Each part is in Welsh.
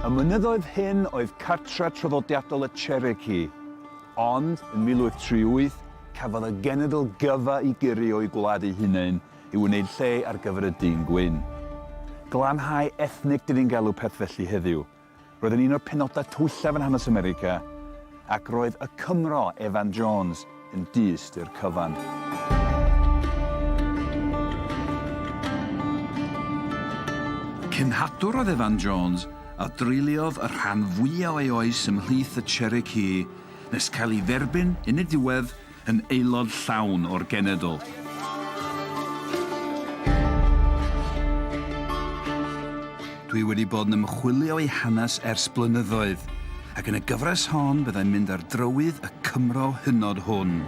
Y mynyddoedd hyn oedd cartref traddodiadol y Cherokee, ond yn 1838 cafodd y genedl gyfa i gyrru o'u gwlad eu hunain i wneud lle ar gyfer y dyn gwyn. Glanhau ethnig dyn ni'n galw peth felly heddiw. Roedd yn un o'r penodau tywyllaf yn hanes America ac roedd y Cymro Evan Jones yn dyst i'r cyfan. Cenhadwr oedd Evan Jones a dreuliodd y rhan fwyaf o'i oes ymhlith y Cherokee nes cael ei dderbyn yn y diwedd yn aelod llawn o'r genedl. Dwi wedi bod yn ymchwilio ei hanes ers blynyddoedd, ac yn y gyfres hon byddai'n mynd ar drywydd y Cymro hynod hwn.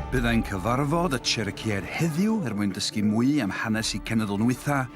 Byddai'n cyfarfod y Cherokee-aid heddiw er mwyn dysgu mwy am hanes ei cenedl nwitha,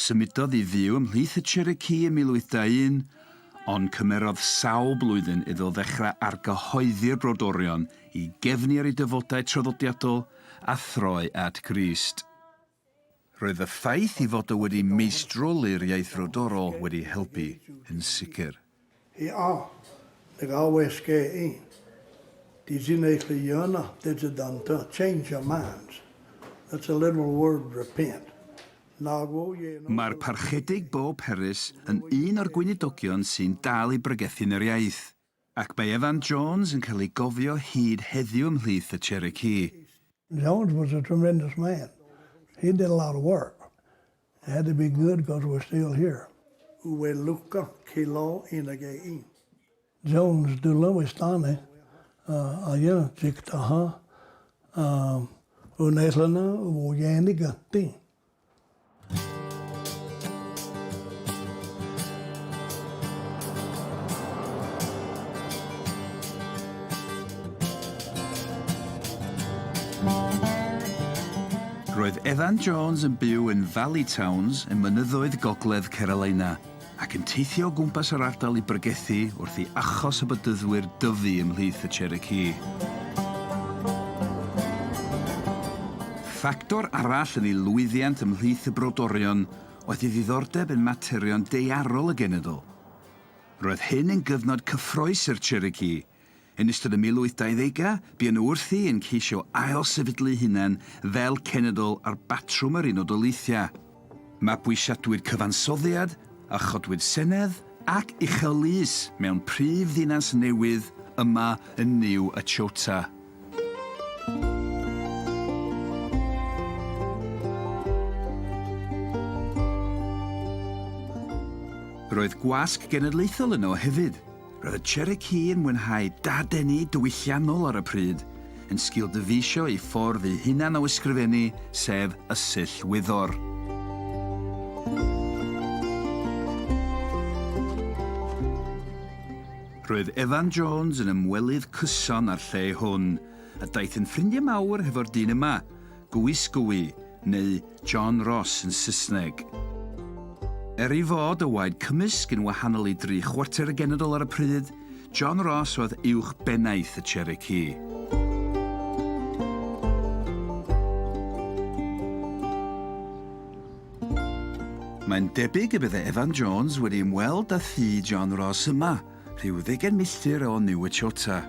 Symudodd i fyw ymhlith y Cherokee ym 1821, ond cymerodd sawl blwyddyn iddo ddechrau argyhoeddi'r brodorion i gefnu ar ei dyfodau traddodiadol a throi at Grist. Roedd y ffaith ei fod o wedi meistroli'r iaith frodorol wedi helpu yn sicr. Ia, dy gawes ge i. Di sy'n ei chlu yna, dy dy dan dy, change your minds. That's a literal word, repent. Nag o ie nod o. Mae'r Parchedig Bob Harris yn un o'r gweinidogion sy'n dal i bregethu yn yr iaith, ac mae Evan Jones yn cael ei gofio hyd heddiw ymhlith y Cherokee. Jones was a tremendous man. He did a lot of work. Had to be good cos we're still here. Ue luco ci lo yn y ge i. Jones du lywys dane a aia jig da ha a un eil yna o ienig ati. Roedd Evan Jones yn byw yn Valley Towns ym mynyddoedd gogledd Carolina ac yn teithio o gwmpas yr ardal i bregethu wrth i achos y Bedyddwyr dyfu ymhlith y Cherokee. Ffactor arall yn ei lwyddiant ymhlith y brodorion oedd ei ddiddordeb yn materion daearol y genedl. Roedd hyn yn gyfnod cyffrous i'r Cherokee, Yn ystod y 1820au, buon nhw wrthi yn ceisio ail-sefydlu'u hunain fel cenedl ar batrwm yr Unol Daleithiau. Mabwysiadwyd cyfansoddiad a chodwyd senedd ac uchel lys mewn prif ddinas newydd yma yn New Echota. Roedd gwasg genedlaethol yno hefyd. Roedd y Cherokee yn mwynhau dadeni diwylliannol ar y pryd, yn sgil dyfeisio eu ffordd eu hunain o ysgrifennu, sef Ysyll Wyddor. Roedd Evan Jones yn ymwelydd cyson â'r lle hwn, a daeth yn ffrindiau mawr hefo'r dyn yma, Gwisgwy neu John Ross yn Saesneg. Er ei fod y waed cymysg yn wahanol i dri chwarter y genedl ar y pryd, John Ross oedd uwch bennaeth y Cherokee. Mae'n debyg y bydde Evan Jones wedi ymweld â thŷ John Ross yma, rhyw ddeugain milltir o Niuechota.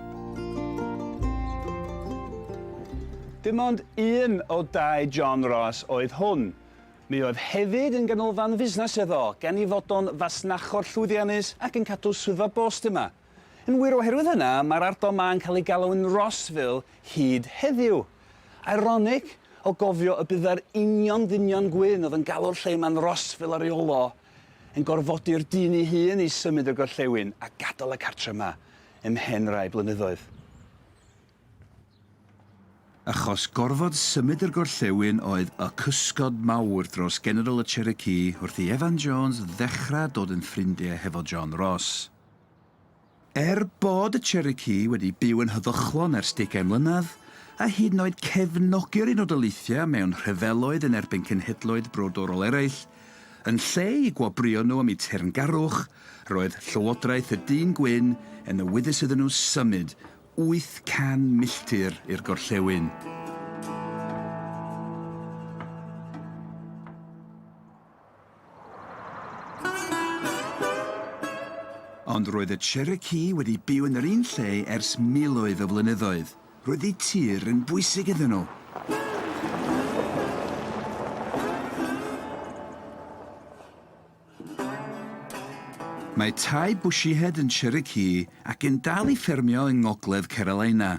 Dim ond un o dai John Ross oedd hwn. Mi oedd hefyd yn ganolfan fusnes iddo, gan ei fod o'n fasnachwr llwyddiannus ac yn cadw swyddfa bost yma. Yn wir, oherwydd hynna, mae'r ardal 'ma yn cael ei galw yn Rossville hyd heddiw. Ironig, o gofio y byddai'r union ddynion gwyn oedd yn galw'r lle 'ma'n Rossville ar ei ol o, yn gorfodi'r dyn ei hun i symud y gorllewin a gadael y cartre yma ymhen rai blynyddoedd. Achos gorfod symud yr gorllewin oedd y cysgod mawr dros General y Cherokee wrth i Evan Jones ddechrau dod yn ffrindiau hefo John Ross. Er bod y Cherokee wedi byw yn heddychlon ers degau mlynedd, a hyd yn oed cefnogi yr Unol Daleithiau mewn rhyfeloedd yn erbyn cenhedloedd brodorol eraill, yn lle i gwobrwyo nhw am eu teyrngarwch, roedd llywodraeth y dyn gwyn yn awyddus iddyn nhw symud 800 milltir i'r gorllewin. Ond roedd y Cherokee wedi byw yn yr un lle ers miloedd o flynyddoedd. Roedd eu tir yn bwysig iddyn nhw. Mae tai Bushyhead yn Cherokee ac yn dal i ffermio yng ngogledd Carolina.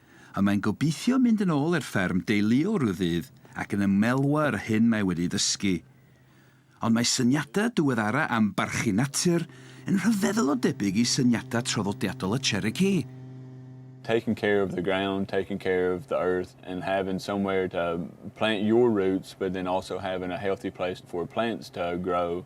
Ond mae'n gobeithio mynd yn ôl i'r fferm deuluol rhyw ddydd ac yn ymelwa yr hyn mae wedi ei ddysgu. Ond mae syniadau diweddara am barchu natur yn rhyfeddol o debyg i syniadau traddodiadol y Cherokee. Taking care of the ground, taking care of the earth and having somewhere to plant your roots but then also having a healthy place for plants to grow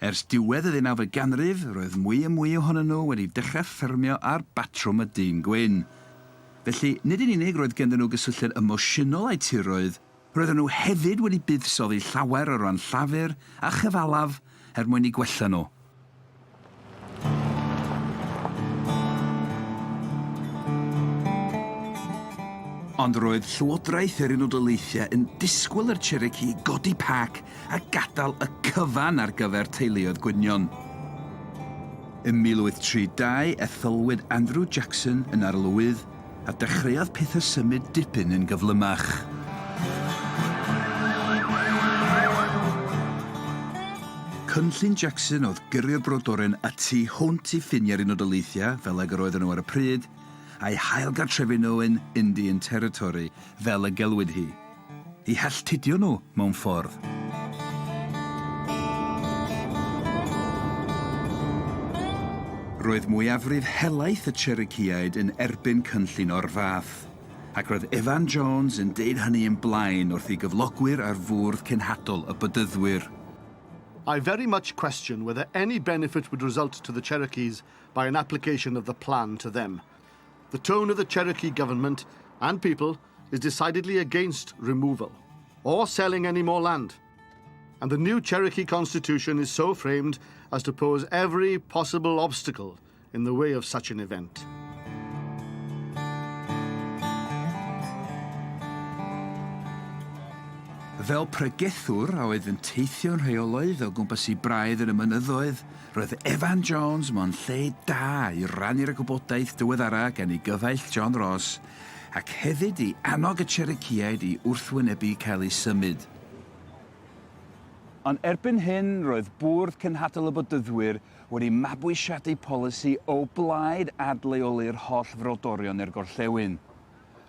Ers diwedd y ddeunawfed ganrif, roedd mwy a mwy ohonyn nhw wedi dechrau ffermio ar batrwm y dyn gwyn. Felly, nid yn unig roedd ganddyn nhw gysylltiad emosiynol â'u tiroedd, roedden nhw hefyd wedi buddsoddi llawer o ran llafur a chyfalaf er mwyn eu gwella nhw. Ond roedd Llywodraeth yr Unol Daleithiau yn disgwyl i'r Cherokee godi pac a gadael y cyfan ar gyfer teuluoedd gwynion. Ym 1832, etholwyd Andrew Jackson yn arlywydd A dechreuodd pethe symud dipyn yn gyflymach. Cynllun Jackson oedd gyrru'r brodoren y tu hwnt i ffiniau'r Unol Daleithiau, fel ag yr oedden nhw ar y pryd, a'i hail-gartrefu nhw yn Indian Territory, fel y gelwid hi. I halltudio nhw mewn ffordd. Roedd mwyafrif helaeth y Cherokeeaid yn erbyn cynllun o'r fath, ac roedd Evan Jones yn deud hynny yn blaen wrth ei gyflogwyr ar fwrdd cenhadol y Bedyddwyr. I very much question whether any benefit would result to the Cherokees by an application of the plan to them. The tone of the Cherokee government and people is decidedly against removal or selling any more land, and the new Cherokee Constitution is so framed as to pose every possible obstacle in the way of such an event. Fel pregethwr a oedd yn teithio'n rheolaidd o gwmpas i braidd yn y mynyddoedd, roedd Evan Jones mewn lle da i rannu'r gwybodaeth diweddara gan ei gyfaill John Ross ac hefyd i annog y Cherokee-aid i wrthwynebu cael eu symud. Ond erbyn hyn, roedd Bwrdd Cenhadol y Bodyddwyr wedi mabwysiadu polisi o blaid adleoli'r holl frodorion i'r gorllewin.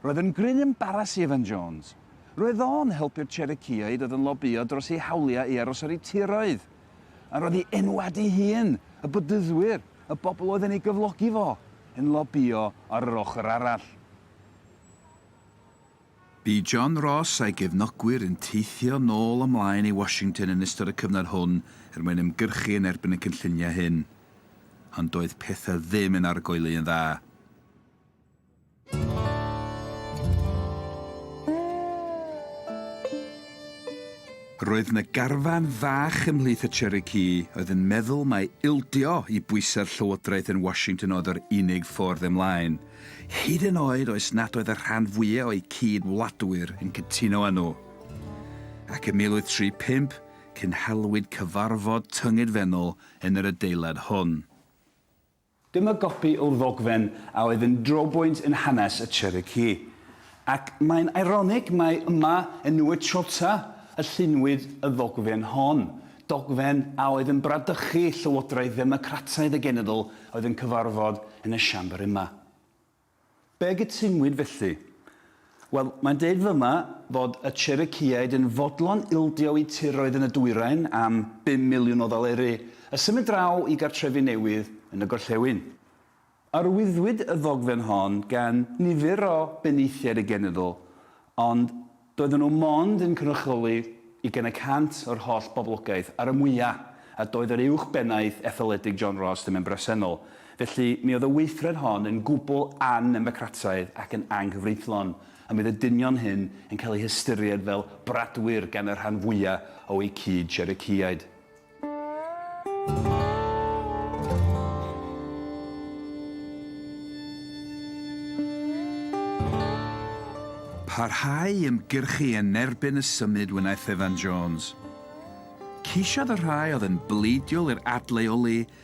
Roedd yn gryn embaras i Evan Jones. Roedd o'n helpu'r Cherokee-aid oedd yn lobïo dros eu hawliau i aros ar eu tiroedd. a roedd i enwad ei hun, y Bedyddwyr, y bobl oedd yn ei gyflogi fo, yn lobïo ar yr ochr arall. Bu John Ross a'i gefnogwyr yn teithio nôl a mlaen i Washington yn ystod y cyfnod hwn er mwyn ymgyrchu yn erbyn y cynlluniau hyn. Ond doedd pethau ddim yn argoeli yn dda. Roedd na garfan fach ymhlith y Cherokee oedd yn meddwl mai ildio i bwysau'r llywodraeth yn Washington oedd yr unig ffordd ymlaen, hyd yn oed oes nad oedd y rhan fwyaf o'u cyd-wladwyr yn cytuno â nhw. Ac ym 1835, cynhalwyd cyfarfod tyngedfennol yn yr adeilad hwn. Dyma gopi o'r ddogfen a oedd yn drobwynt yn hanes y Cherokee. Ac mae'n eironig mai yma, yn New Echota, y llunwyd y ddogfen hon, dogfen a oedd yn bradychu llywodraeth ddemocrataidd y genedl oedd yn cyfarfod yn y Siambr yma. Be gytunwyd felly? Wel, mae'n deud fyma fod y Cherokeeaid yn fodlon ildio'u tiroedd yn y dwyrain am bum miliwn o ddoleri a symud draw i gartrefi newydd yn y gorllewin. Arwyddwyd y ddogfen hon gan nifer o benaethiaid y genedl, ond Doedden nhw mond yn cynrychioli ugain y cant o'r holl boblogaeth, ar y mwya, a doedd yr Uwch Bennaeth Etholedig John Ross ddim yn bresennol. Felly, mi oedd y weithred hon yn gwbl annemocrataidd ac yn anghyfreithlon, a mi oedd y dynion hyn yn cael eu hystyried fel bradwyr gan y rhan fwya o'u cyd-Cherokeeaid. Parhau i ymgyrchu yn erbyn y symud wnaeth Evan Jones. Ceisiodd y rhai oedd yn bleidiol i'r adleoli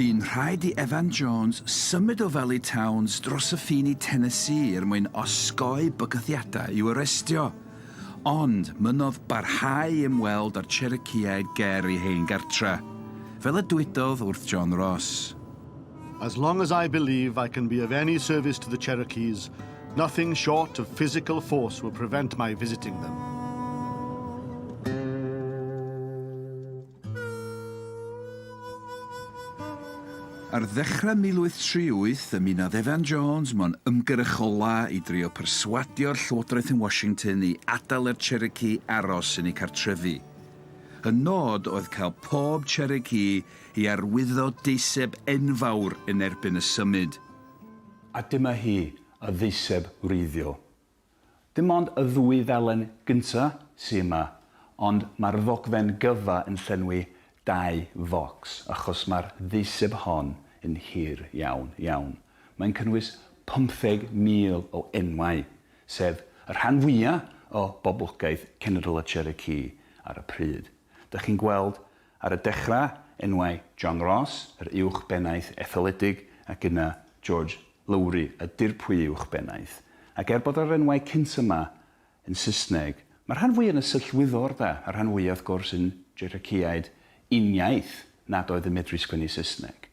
Bu'n rhaid i Evan Jones symud o Valley Towns dros y ffin i Tennessee er mwyn osgoi bygythiadau i'w arestio, ond mynnodd barhau i ymweld â'r Cherokeeaid ger ei hen gartre', fel y dywedodd wrth John Ross. As long as I believe I can be of any service to the Cherokees, nothing short of physical force will prevent my visiting them. Ar ddechrau 1838, ymunodd Evan Jones mewn ymgyrch ola i drio perswadio'r Llywodraeth yn Washington i adael i'r Cherokee aros yn eu cartrefi. Y nod oedd cael pob Cherokee I arwyddo deiseb enfawr yn erbyn y symud. A dyma hi, y ddeiseb wreiddiol. Dim ond y ddwy ddalen gynta' sy yma, ond ma'r ddogfen gyfa yn llenwi dau focs, achos ma'r ddeiseb hon yn hir iawn, iawn. Mae'n cynnwys pymtheg mil o enwau, sef y rhan fwya' o boblogaeth cenedl y Cherokee ar y pryd. Dych chi'n gweld, Ar y dechrau, enwau John Ross, yr Uwch Bennaeth Etholedig, ac yna George Lowry, y Dirprwy Uwch Bennaeth. Ac er bod yr enwau cynt yma yn Saesneg, mae'r rhan fwyaf yn y Syllt Wyddor, da, a'r rhan fwyaf, wrth gwrs, yn Jereiciaid, uniaith nad oedd yn medru sgwennu Saesneg.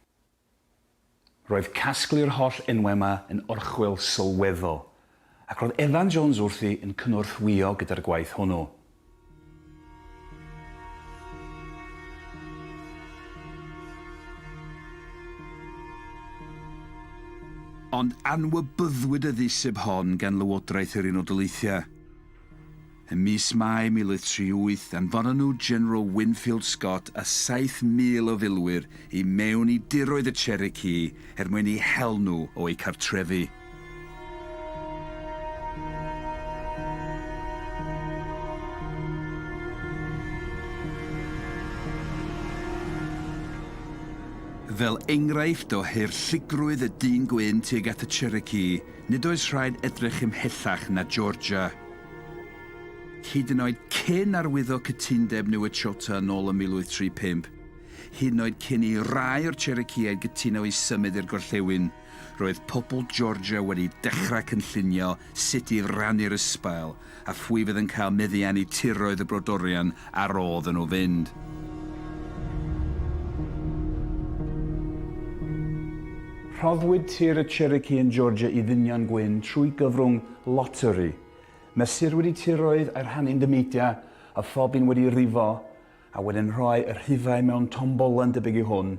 Roedd casglu'r holl enwau yma yn orchwyl sylweddol, ac roedd Evan Jones wrthi yn cynorthwyo gyda'r gwaith hwnnw. Ond anwybyddwyd y ddisub hon gan Lywodraeth yr Unol Daleithiau. Ym mis Mai 1038, anfon y nhw General Winfield Scott a 7,000 o filwyr i mewn i diroedd y Cherokee er mwyn eu hel nhw o'u cartrefi. Fel enghraifft o hurlligrwydd y dyn gwyn tuag at y Cherokee, Nid oes rhaid edrych ymhellach na Georgia. Hyd yn oed cyn arwyddo cytundeb Newechota yn ôl ym 1835, hyd yn oed cyn i rai o'r Cherokeeaid gytuno i symud i'r gorllewin, roedd pobl Georgia wedi dechrau cynllunio sut i rannu'r ysbail a phwy fydd yn cael meddiannu tiroedd y brodorion a rodd yn nhw fynd. Rhoddwyd tir y Cherokee yn Georgia i ddynion gwyn trwy gyfrwng loteri. Mesurwyd y tiroedd a'i rhannu'n dymeidiau, a phob un wedi rifo a wedyn rhoi y rhifau mewn tombolen debyg i hwn,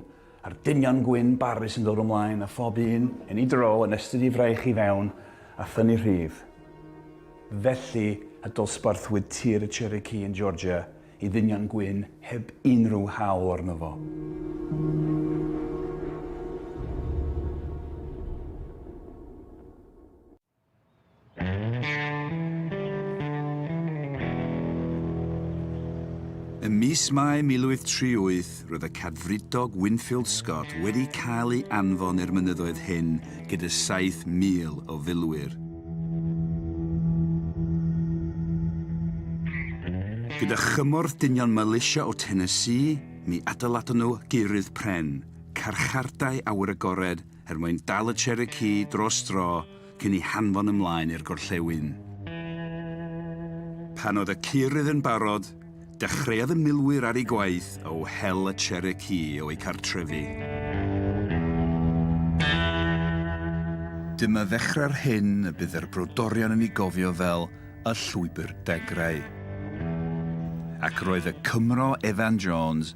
a'r dynion gwyn barus yn dod ymlaen a phob un, yn ei dro, yn estyn ei fraich i fewn a thynnu rhif. Felly y dosbarthwyd tir y Cherokee yn Georgia i ddynion gwyn heb unrhyw hawl arno fo. Ym mis Mai 1038 roedd y Cadfridog Winfield Scott wedi cael ei anfon i'r mynyddoedd hyn gyda 7,000 o filwyr. Gyda chymorth dynion Militia o Tennessee, mi adeiladon nhw geurydd pren, carchardai awyr agored er mwyn dal y Cherokee dros dro cyn i hanfon ymlaen i'r gorllewin. Pan oedd y curydd yn barod, dechreuodd y milwyr ar eu gwaith o hel y Cherokee o'u cartrefi. Dyma ddechrau'r hyn y bydd yr brodorion yn ei gofio fel y Llwybr Degrau. Ac roedd y Cymro Evan Jones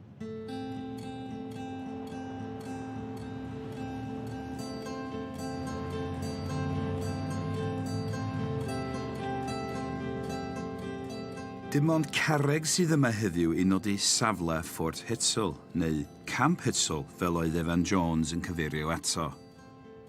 Dim ond carreg sydd yma heddiw i nodi safle Fort Hutsel, neu Camp Hutsel fel oedd Evan Jones yn cyfeirio ato.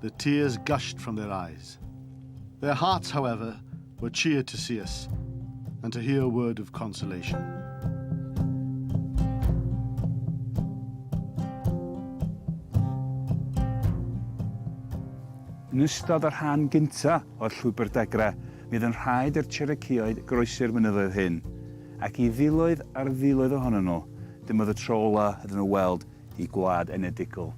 the tears gushed from their eyes. Their hearts, however, were cheered to see us and to hear a word of consolation. Yn ystod y rhan gyntaf o'r Llwybr Dagra, bydd yn rhaid i'r Cherokeeoedd groesi'r mynyddoedd hyn, ac i filoedd ar filoedd ohonyn nhw, dyma oedd y tro olaf iddyn nhw weld eu gwlad enedigol.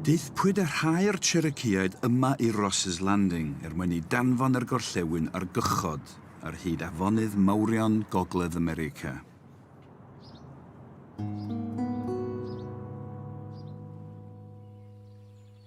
Daethpwyd y rhai o'r Cherokeeaid yma i Ross's Landing er mwyn i danfon yr gorllewin ar gychod ar hyd afonydd mawrion Gogledd America.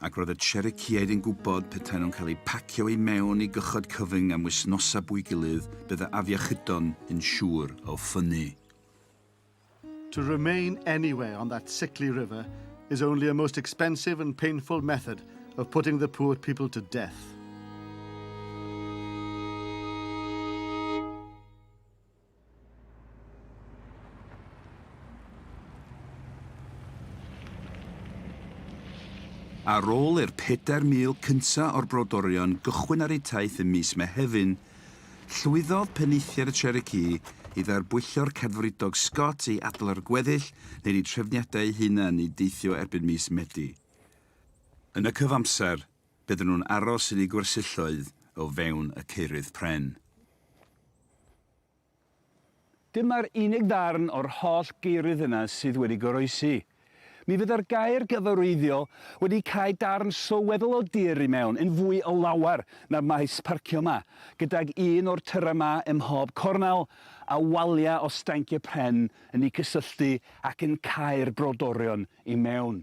ac roedd y Cherokee-aid yn gwybod petaen nhw'n cael eu pacio i mewn i gychod cyfyng am wisnosau bwy gilydd, bydda afiechydon yn siŵr o ffynnu. To remain anywhere on that sickly river is only a most expensive and painful method of putting the poor people to death. Ar ôl i'r 4,000 cyntaf o'r brodorion gychwyn ar eu taith ym mis Mehefin, llwyddodd Penaethiaid y Cherokee i dderbwyllo'r Cadfridog Scott i adael ar y gweddill neu yn eu trefniadau eu hunain i deithio erbyn mis Medi. Yn y cyfamser, Bydden nhw'n aros yn eu gwersylloedd o fewn y caerydd pren. Dyma'r unig ddarn o'r holl gaerydd yna sydd wedi goroesi. Mi fydda'r gaer gyfarwyddiol wedi cau darn sylweddol o dir i mewn yn fwy o lawer na'r maes parcio 'ma, gydag un o'r tyrau 'ma ym mhob cornel, a waliau o stanciau pren yn eu cysylltu ac yn cau'r brodorion i mewn.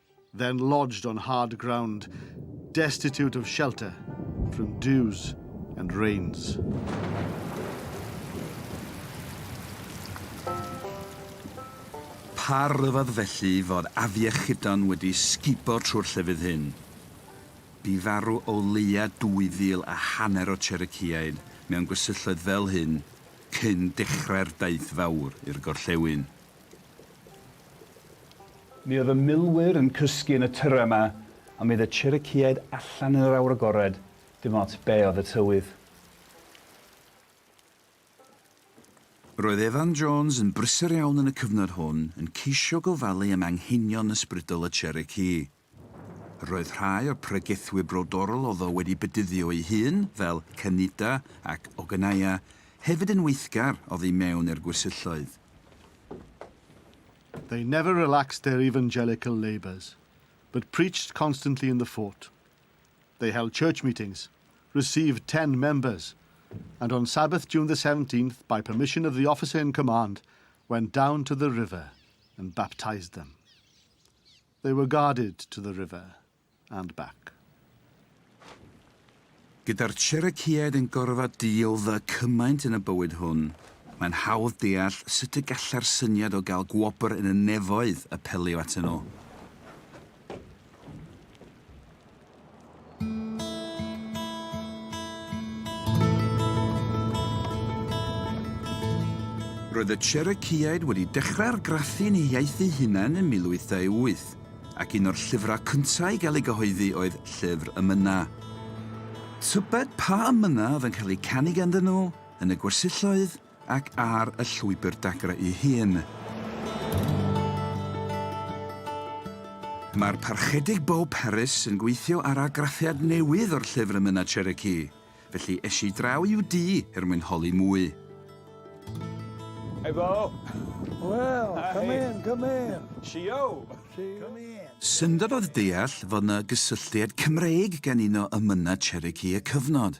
then lodged on hard ground, destitute of shelter from dews and rains. Pa ryfedd felly fod afiechydon wedi sgubo trwy'r llefydd hyn? Bu farw o leia 2,000 a hanner o Cherokeeaid mewn gwersylloedd fel hyn cyn dechrau'r Daith Fawr i'r gorllewin. Mi oedd y milwyr yn cysgu yn y tyrra 'ma, a mi oedd y Cherokeeaid allan yn yr awyr agored, dim ots be' oedd y tywydd. Roedd Evan Jones yn brysur iawn yn y cyfnod hwn, yn ceisio gofalu am anghenion ysbrydol y Cherokee. Roedd rhai o'r pregethwyr brodorol oedd o wedi bedyddio ei hun, fel Cynida ac Ogynaia, hefyd yn weithgar oddi mewn i'r gwersylloedd. They never relaxed their evangelical labours, but preached constantly in the fort. They held church meetings, received ten members, and on Sabbath June the 17th, by permission of the officer in command, went down to the river and baptised them. They were guarded to the river and back. Gyda'r Cherokeeaid yn gorfod deal the cymaint yn y bywyd hwn, mae'n hawdd deall sut y gallai'r syniad o gael gwobr yn y nefoedd apelio atyn nhw. Roedd y Cherokeeaid wedi dechrau argraffu'n eu hiaith eu hunain ym 1828, ac un o'r llyfrau cyntaf i gael ei gyhoeddi oedd Llyfr y Mynnau. Tybed pa amynau oedd yn cael eu canu ganddyn nhw yn y gwersyll oedd? ac ar y llwybr dagrau ei hun. Mae'r Parchedig Beau Paris yn gweithio ar argraffiad newydd o'r llyfr Y Myna Cherokee, felly es i draw i'w dŷ er mwyn holi mwy. Hey Beau! Wel, come in, come in! Shio! Syndod oedd deall fod 'na gysylltiad Cymreig gan un o Ymynau Cherokee y cyfnod.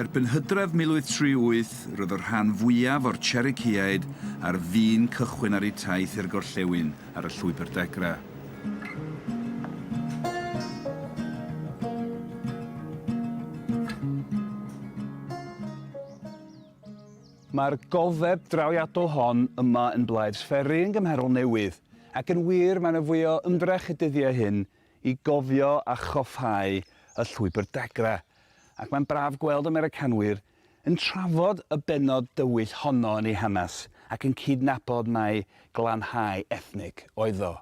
Erbyn hydref 1038, roedd y rhan fwyaf o'r Cherokee-aid ar fin cychwyn ar eu taith i'r gorllewin ar y Llwybr Degra. Mae'r gofeb drawiadol hon yma yn Blythe's Ferry yn gymharol newydd, ac yn wir mae yna fwy o ymdrech y dyddiau hyn i gofio a choffáu y Llwybr Dagra, ac mae'n braf gweld Americanwyr yn trafod y bennod dywyll honno yn ei hanes ac yn cydnabod mai glanhau ethnig oedd o.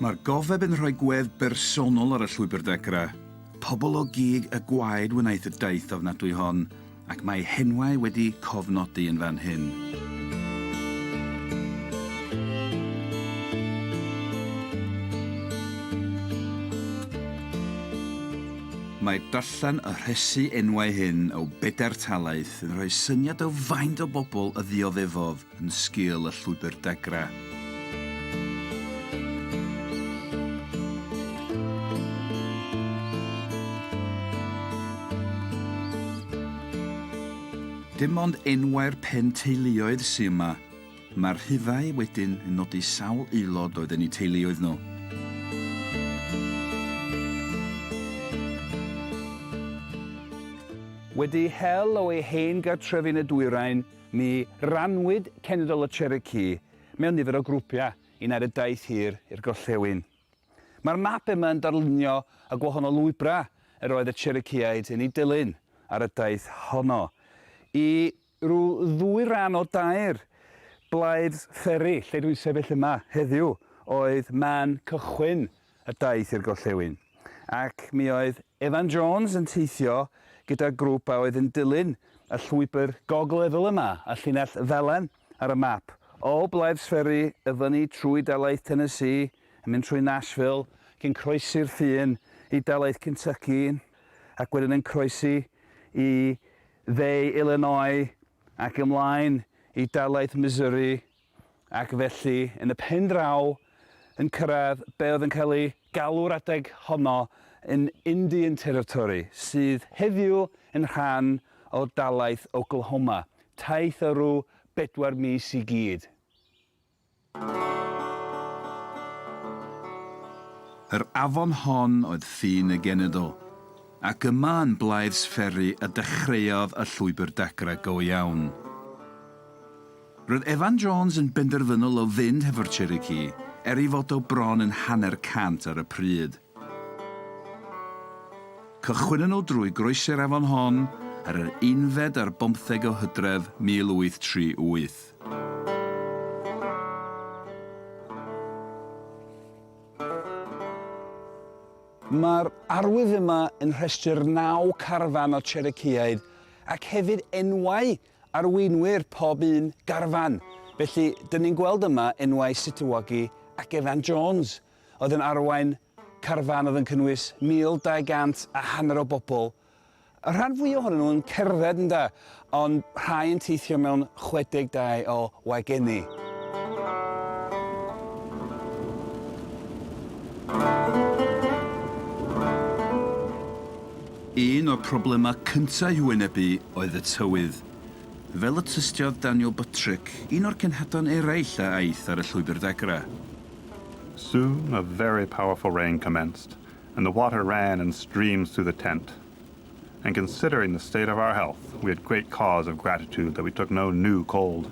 Mae'r gofeb yn rhoi gwedd bersonol ar y Llwybr Dagra, Pobl o gig y gwaed wnaeth y daith ofnadwy hon, ac mae henwau wedi cofnodi yn fan hyn. Mae darllen y rhesi enwau hyn o bedair talaith yn rhoi syniad o faint o bobl y ddioddefodd yn sgil y llwybr degra. Dim ond enwau'r pen teuluoedd sy yma. Mae'r rhifau wedyn yn nodi sawl aelod oedd yn eu teuluoedd nhw. Wedi hel o'i hen gartref yn y dwyrain, Ni rannwyd cenedl y Cherokee mewn nifer o grwpiau i wneud y daith hir i'r gorllewin. Mae'r map yma yn darlunio y gwahanol lwybrau yr oedd y Cherokeeaid yn eu dilyn ar y daith honno i ryw ddwy ran o dair blaid fferi, lle dwi'n sefyll yma heddiw, oedd man cychwyn a daeth i'r gorllewin, ac mi oedd Evan Jones yn teithio gyda grwp a oedd yn dilyn y llwybr gogleddol yma, y llinell felen ar y map, o Blaives Ferry i fyny trwy dalaith Tennessee, yn mynd trwy Nashville, ac yn croesi'r ffin i dalaith Kentucky, ac wedyn yn croesi i dde Illinois ac ymlaen i dalaith Missouri. ac felly, yn y pen draw, yn cyrraedd be oedd yn cael ei galw'r adeg honno yn Indian Territory, sydd heddiw yn rhan o dalaith Oklahoma, taith o ryw bedwar mis i gyd. Yr afon hon oedd ffin y genedl, ac yma yn Blythe's Ferry y dechreuodd y llwybr dagrau go iawn. Roedd Evan Jones yn benderfynol o fynd hefo'r Cherokee, er ei fod o bron yn hanner cant ar y pryd. Cychwynnon nhw drwy groesi'r afon hon ar yr unfed ar bymtheg o Hydref 1838. Mae'r arwydd yma yn rhestru'r naw carfan o Cherokeeaidd ac hefyd enwau Arweinwyr pob un garfan. Felly, dyn ni'n gweld yma enwau Situwagi ac Evan Jones, oedd yn arwain carfan oedd yn cynnwys 1,200 a hanner o bobl. Y rhan fwy ohonyn nhw yn cerdded yn da, ond rhai yn teithio mewn 62 o wagenni. Un o'r problemau cyntaf i'w wynebu oedd y tywydd. Fel y tystiodd Daniel Buttrick, un o'r cenhadon eraill a aeth ar y llwybr ddagrau. Soon a very powerful rain commenced and the water ran in streams through the tent. And considering the state of our health we had great cause of gratitude that we took no new cold.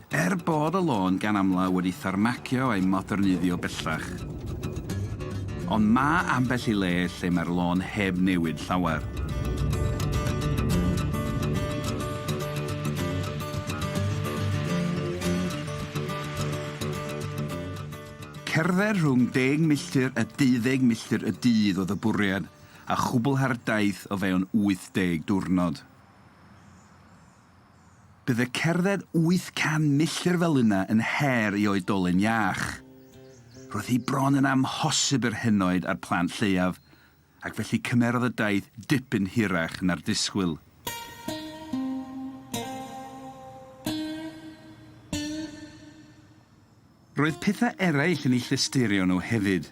Er bod y lôn gan amla wedi tharmacio a'i moderneiddio bellach, ond mae ambell i le lle mae'r lôn heb newid llawer. Cerdded rhwng deg milltir a deuddeg milltir y dydd oedd y bwriad, a chwblhau'r daith o fewn 80 diwrnod. Bydd y cerdded 800 milltir fel yna yn her i oedolyn iach. Roedd hi bron yn amhosib yr henoed a'r plant lleiaf, ac felly cymerodd y daith dipyn hirach na'r disgwyl. Roedd pethau eraill yn ei llystyrio nhw hefyd.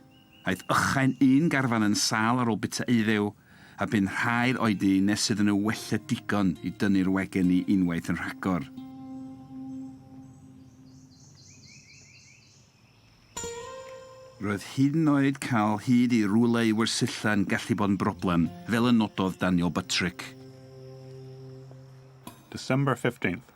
Aeth ychain un garfan yn sâl ar ôl bita eiddew, a bu'n rhai'r oedi nes iddyn nhw wella digon i dynnu'r wegen i unwaith yn rhagor. Roedd hyd yn oed cael hyd i rwle i wersylla yn gallu bod yn broblem, fel y nododd Daniel Buttrick. December 15th.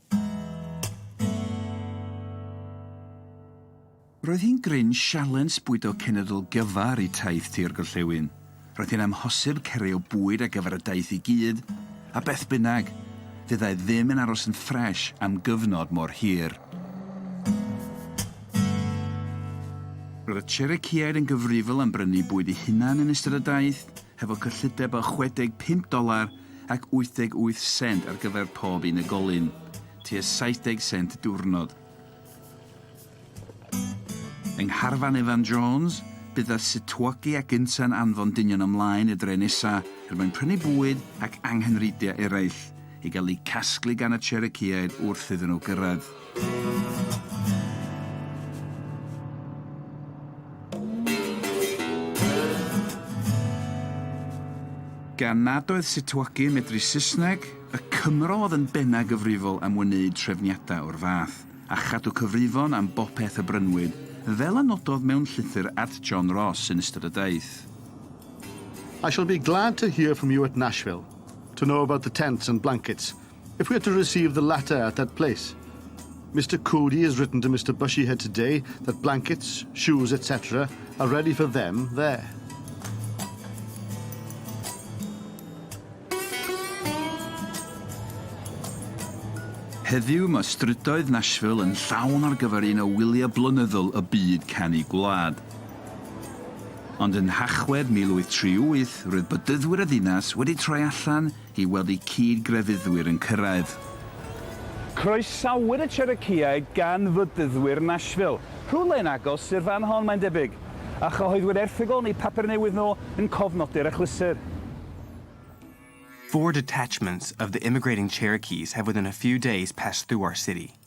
Roedd hi'n gryn sialens bwydo cenedl gyfa ar eu taith tua'r gorllewin. Roedd hi'n amhosib cario bwyd ar gyfer y daith i gyd, a beth bynnag, fyddai ddim yn aros yn ffres am gyfnod mor hir. Roedd y Cherokeeaid yn gyfrifol am brynu bwyd eu hunain yn ystod y daith, hefo cyllideb o 65 doler ac 88 sent ar gyfer pob unigolyn, tua 70 sent diwrnod. Yng ngharfan Evan Jones, bydd y Sitwagi ac Insa'n anfon dynion ymlaen i'r dre nesa er mwyn prynu bwyd ac anghynrheidiau eraill, i gael eu casglu gan y Cherokeeaid wrth iddyn nhw gyrraedd. Gan nad oedd Sitwagi yn medru Saesneg, y Cymro oedd yn bennau gyfrifol am wneud trefniadau o'r fath, a chadw cyfrifon am bopeth y brynwyd, fel a nododd mewn llythyr at John Ross yn ystod y daith. I shall be glad to hear from you at Nashville, to know about the tents and blankets, If we are to receive the latter at that place, Mister Coody has written to Mister Bushyhead today that blankets, shoes, etc. are ready for them there. Heddiw mae strydoedd Nashville yn llawn ar gyfer un o wyliau blynyddol y byd canu gwlad. Ond yn Nhachwedd 1838, roedd bydyddwyr y ddinas wedi troi allan i weld eu cyd-grefyddwyr yn cyrraedd. Croesawir y Cherokeeaid gan Fyddydwyr Nashville, rhywle yn agos i'r fan hon mae'n debyg, a chyhoeddwyd erthygl yn eu papur newydd nhw yn cofnodi'r achlysur. Four detachments of the immigrating Cherokees have within a few days passed through our city.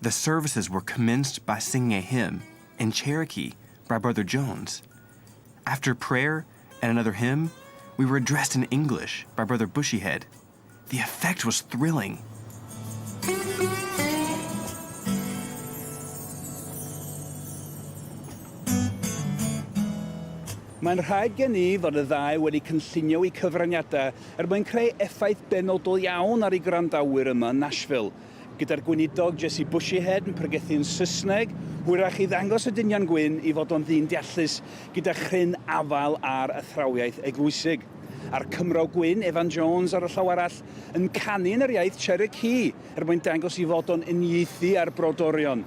The services were commenced by singing a hymn in Cherokee by Brother Jones. After prayer and another hymn, we were addressed in English by Brother Bushyhead. The effect was thrilling. Mae'n rhaid gen i fod y ddau wedi cynllunio eu cyfraniadau er mwyn creu effaith benodol iawn ar eu gwrandawyr yma yn Nashville. gyda'r gweinidog Jessie Bushyhead yn pregethu'n Saesneg, hwyrach i ddangos y dynion gwyn i fod o'n ddyn deallus gyda chryn afael ar athrawiaeth eglwysig, a'r Cymro gwyn, Evan Jones, ar y llaw arall, yn canu yn yr iaith Cherokee er mwyn dangos i fod o'n uniaethu â'r brodorion.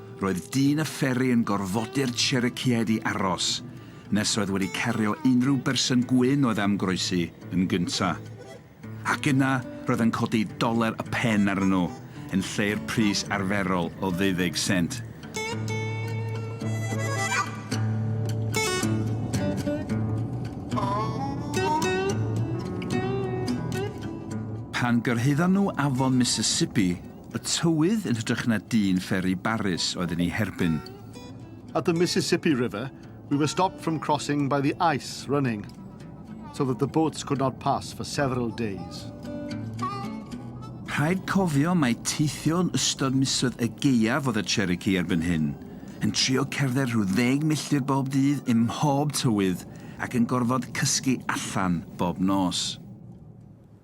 Roedd dyn y fferi yn gorfodi'r Cherokeeaid i aros nes oedd wedi cario unrhyw berson gwyn oedd am groesi yn gynta'. Ac yna roedd yn codi doler y pen arnyn nhw yn lle'r pris arferol o ddeuddeg sent. Pan gyrhaeddon nhw afon Mississippi, Y tywydd yn hytrach na dyn fferi barus oedd yn ei herbyn. At the Mississippi River, we were stopped from crossing by the ice running, so that the boats could not pass for several days. Rhaid cofio mai teithio yn ystod misoedd y gaeaf oedd y Cherokee erbyn hyn, yn trio cerdded rhyw ddeg milltir bob dydd ym mhob tywydd ac yn gorfod cysgu allan bob nos.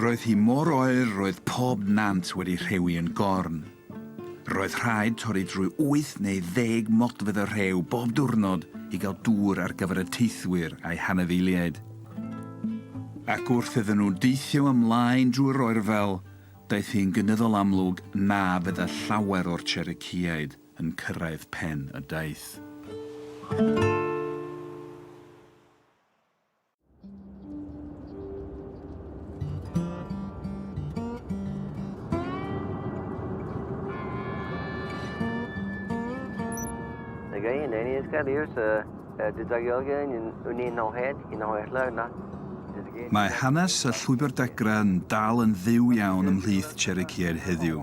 Roedd hi mor oer roedd pob nant wedi rhewi yn gorn. Roedd rhaid torri drwy wyth neu ddeg modfedd o rhew bob diwrnod i gael dŵr ar gyfer y teithwyr a'u hanifeiliaid. Ac wrth iddyn nhw deithio ymlaen drwy'r oerfel, daeth hi'n gynyddol amlwg na fydda llawer o'r Cherokeeaid yn cyrraedd pen y daith. Mae hanes y Llwybr Degra yn dal yn fyw iawn ymhlith Cherokee heddiw.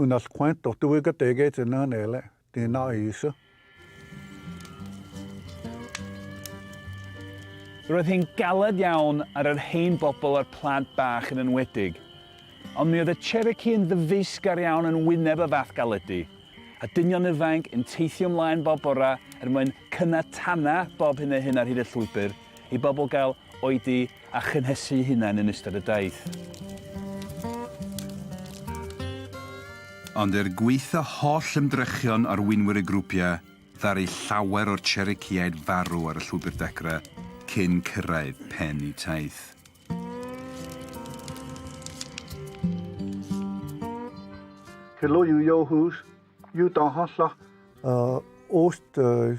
Yn all quaint o dwy gategau dyna yn ele, dyna eise. Roedd hi'n galed iawn ar yr hen bobl a'r plant bach yn enwedig. Ond mi oedd y Cherokee yn ddyfeisgar iawn yn wyneb y fath galedi, a dynion ifainc yn teithio ymlaen bob bora er mwyn cynnau tana bob hyn a hyn ar hyd y llwybr i bobl gael oedi a chynhesu'u hunain yn ystod y daith. Ond er gwaetha holl ymdrechion arweinwyr y grwpiau, ddaru llawer o'r Cherokee-aid farw ar y llwybr degra cyn cyrraedd pen eu taith. Helo yw Joe Hughes, yw Don Hollach. Oes dy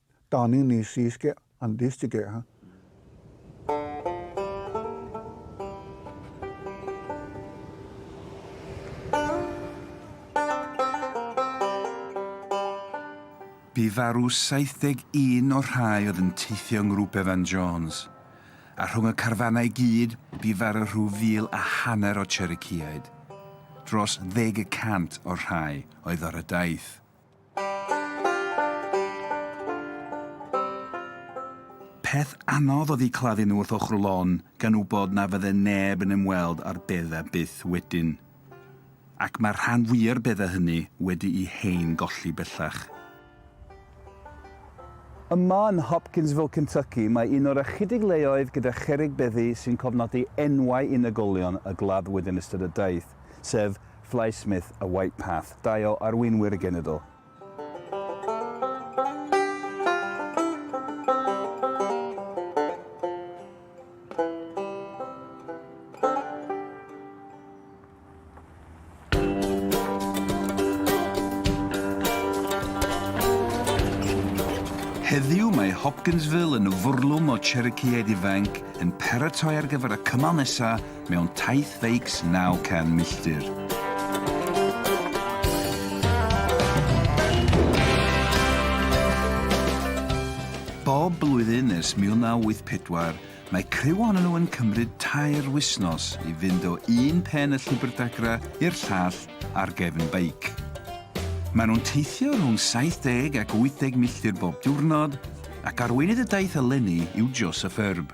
Da ni'n ni siiske an diste geha. Bu farw 71 o'r rhai oedd yn teithio yng Ngrŵp Evan Jones, a rhwng y carfanau i gyd bu farw rhyw fil a hanner o Cherokeeaid. Dros ddeg y cant o'r rhai oedd ar y daith. Peth anodd oedd eu claddu nhw wrth ochr lôn, gan wybod na fydde neb yn ymweld â'r beddau byth wedyn. Ac mae'r rhan fwya'r beddau hynny wedi'u hen golli bellach. Yma yn Hopkinsville, Kentucky, mae un o'r ychydig leoedd gyda cherrig beddi sy'n cofnodi enwau unigolion y gladdwyd yn ystod y daith, sef Fly Smith a White Path, dau o arweinwyr y genedl. Heddiw mae Hopkinsville yn fwrlwm o Cherokeeaid ifainc yn paratoi ar gyfer y cymal nesaf mewn taith feics 900 milltir. Bob blwyddyn ers 1984, mae criw ohonyn nhw yn cymryd tair wisnos i fynd o un pen y llwybr dagra i'r llall ar gefn beic. Maen nhw'n teithio rhwng 70 ac 80 milltir bob diwrnod, ac arweinydd y daith eleni yw Joseph Erb.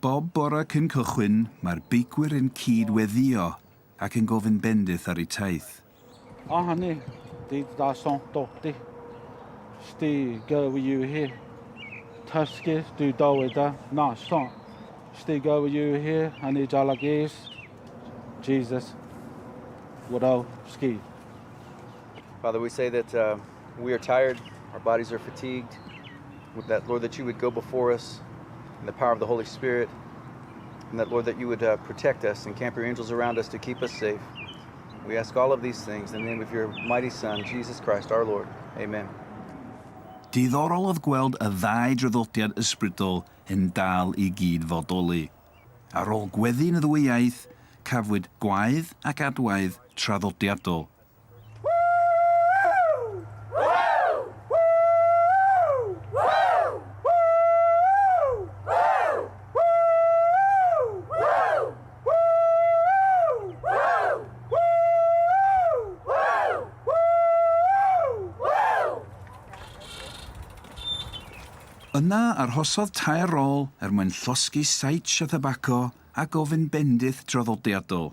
Bob bore cyn cychwyn, mae'r beicwyr yn cyd weddïo ac yn gofyn bendith ar eu taith. A hynny, dydd da song dodi, sti gyw yw hi. Tysgu, dwi dyweda, na song, sti gyw yw hi, yn ei dal ag eis. Jesus, wrau, ski. Father, we say that uh, We are tired, our bodies are fatigued, with that, Lord, that you would go before us in the power of the Holy Spirit, and that, Lord, that you would uh, protect us and camp your angels around us to keep us safe. We ask all of these things in the name of your mighty Son, Jesus Christ, our Lord. Amen. Diddorol oedd gweld y ddau draddodiad ysbrydol yn dal i gyd fodoli. Ar ôl gweddu'n y ddwy iaith, cafwyd gwaedd ac adwaedd traddodiadol. Yna arhosodd tair rôl er mwyn llosgi Saitch a Thabaco a gofyn bendith traddodiadol.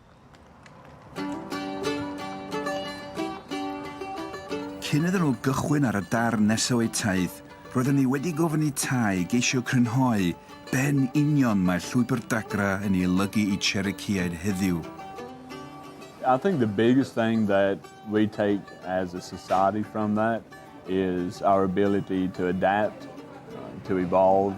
Cyn iddyn nhw gychwyn ar y darn nesaf o'u taith, roedden ni wedi gofyn i Tye geisio crynhoi be yn union mae Llwybr Dagra yn ei olygu i Chericeaid heddiw. I think the biggest thing that we take as a society from that is our ability to adapt, to evolve,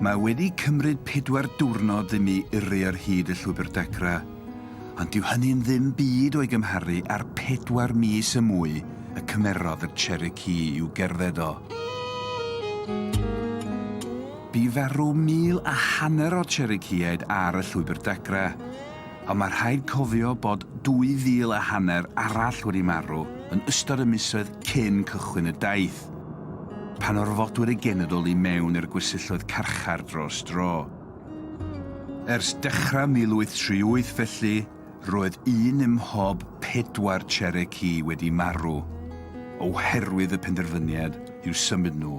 Mae wedi cymryd pedwar diwrnod i mi yrru ar hyd y llwybr degra, ond dyw hynny'n ddim byd o'i gymharu â'r pedwar mis y mwy y cymerodd y Cherokee i'w gerdded o. Bu farw mil a hanner o Cherokeeaid ar y llwybr degra, Ond mae rhaid cofio bod dwy fil a hanner arall wedi marw yn ystod y misoedd cyn cychwyn y daith, pan orfodwyd y genedl i mewn i'r gwersylloedd carchar dros dro. Ers dechrau 1838 felly, roedd un ym mhob pedwar Cherokee wedi marw oherwydd y penderfyniad i'w symud nhw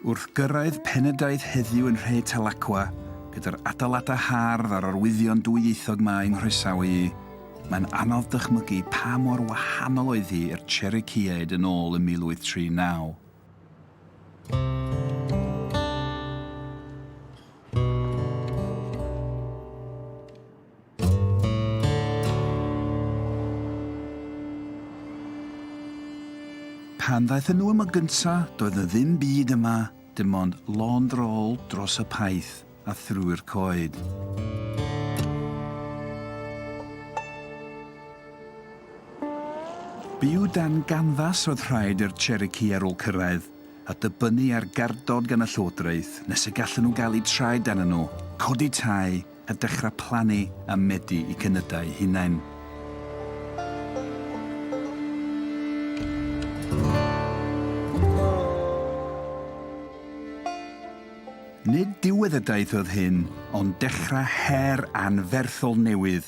Wrth gyrraedd Penydaeth heddiw yn Nhre Talacwa, gyda'r adeiladau hardd a'r arwyddion dwyieithog 'ma i'n nghroesawu i, mae'n anodd dychmygu pa mor wahanol oedd hi i'r Cherokeeaid yn ôl yn 1839. Pan ddaethon nhw yma gynta, doedd na ddim byd yma, dim ond lond rôl dros y paith a thrwy'r coed. Byw dan ganfas oedd rhaid i'r Cherokee ar ôl cyrraedd, a dibynnu ar gardod gan y llywodraeth nes y gallen nhw gael eu traed dan nhw, codi tai, a dechrau plannu a medu i cynydau hunain. Nid dywedyddiaeth oedd hyn, ond dechrau her anferthol newydd,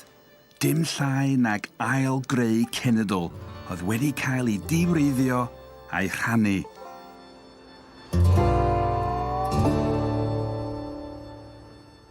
dim llai nag ail-greu cenedl oedd wedi cael ei diwreiddio a'i rhannu.